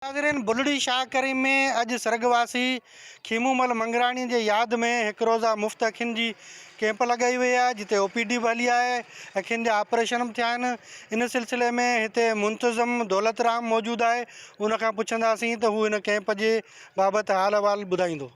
ناظرين بلڙي شاهه ڪريم ۾ اڄ سرڳواسي کيمومل منگراڻي جي ياد ۾ هڪ روزه مفت اکين جي ڪيمپ لڳائي وئي آهي جتي او پي ڊي به هلي آهي اکين جا آپريشن به ٿيا آهن ان سلسلي ۾ هتي منتظم دولت رام موجود آهي ان کان پڇنداسين ته هو هن ڪيمپ جي بابت حال احوال ٻڌائيندو.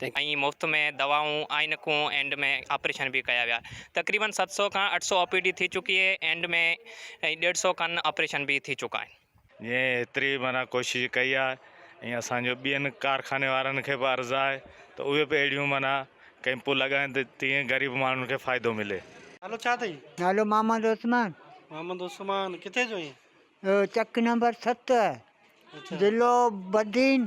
۽ مفت ۾ دوائون، عائنڪون اينڊ ۾ آپريشن به ڪيا ويا. تقريبن ست سؤ کان اٺ سؤ او پي ڊي ٿي چڪي اهي اينڊ ۾ ۽ ڏيڍ سؤ کن آپريشن به ٿي چڪا آهن. جنهن ايتري معنيٰ ڪوشش ڪئي آهي ۽ اسان جو ٻين ڪارخاني وارن کي به عرض آهي ته اهي به اهڙيون معنيٰ ڪئمپون لڳائين ته تيئن غريب ماڻهن کي فائدو ملي. نالو ڇا اٿئي؟ نالو محمد عثمان. محمد عثمان ڪٿي جو آهين؟ چڪ نمبر ست ضلعو بدين.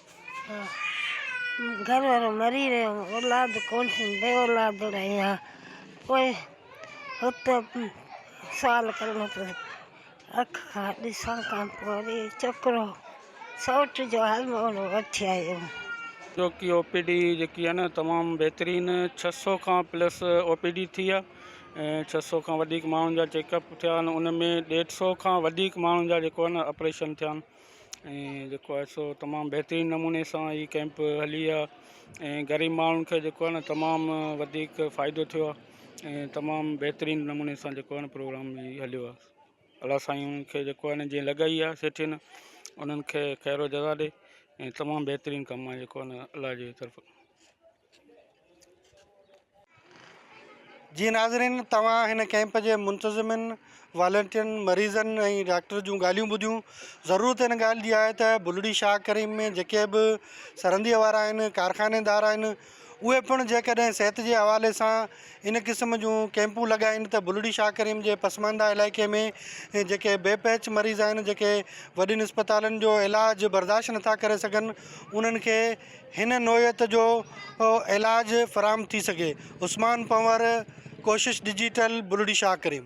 گهر وارو مري ويو اولاد ڪونهي بي اولاد رهي ها پوء هت سوال ڪرڻو پيو اک کان ڏسڻ کان پوء وري ڇوڪرو سئوٽ جو حال مهڙو وٺي آيو ڇو ڪي او پي ڊي جيڪي آهي نه تمام بهترين ڇهه سؤ کان پلس او پي ڊي ٿي آهي ۽ ڇهه سؤ کان وڌيڪ ماڻهن جا چيڪ اپ ٿيا آهن ان ۾ ڏيڍ سؤ کان وڌيڪ ماڻهن جا جيڪو آهي نه آپريشن ٿيا آهن ۽ جيڪو آهي سو تمام بهترين نموني سان هي ڪئمپ هلي آهي ۽ غريب ماڻهن کي جيڪو آهي نه تمام وڌيڪ فائدو ٿيو آهي ۽ تمام بهترين نموني سان جيڪو آهي نه پروگرام هي هليو آهي الله سائين انهن کي جيڪو آهي نه جنهن لڳائي آهي سيٺين انهن کي خيرو جزا ڏي ۽ تمام بهترين ڪم آهي جيڪو آهي نه الله جي طرفان جي ناظرين توهان هن ڪئمپ جي منتظمن والنٽيرن مريضن ۽ ڊاڪٽر جون ڳالهيون ٻڌيون ضرورت ان ڳالهه جي آهي ته بلڙي شاهه ڪريم ۾ جيڪي به سرنديء وارا آهن ڪارخانيدار آهن اهي پڻ جيڪڏهن صحت جي حوالي سان ان قسم جون ڪئمپون لڳائين ته بلڙي شاهه ڪريم جي پسمانده علائقي ۾ جيڪي بي پهچ مريض آهن جيڪي وڏين اسپتالن جو علاج برداشت نٿا ڪري سگهن انهن کي هن نوعيت جو علاج فراهم ٿي سگهي عثمان پنور ڪوشش ڊجيٽل بلڙي شاهه ڪريم.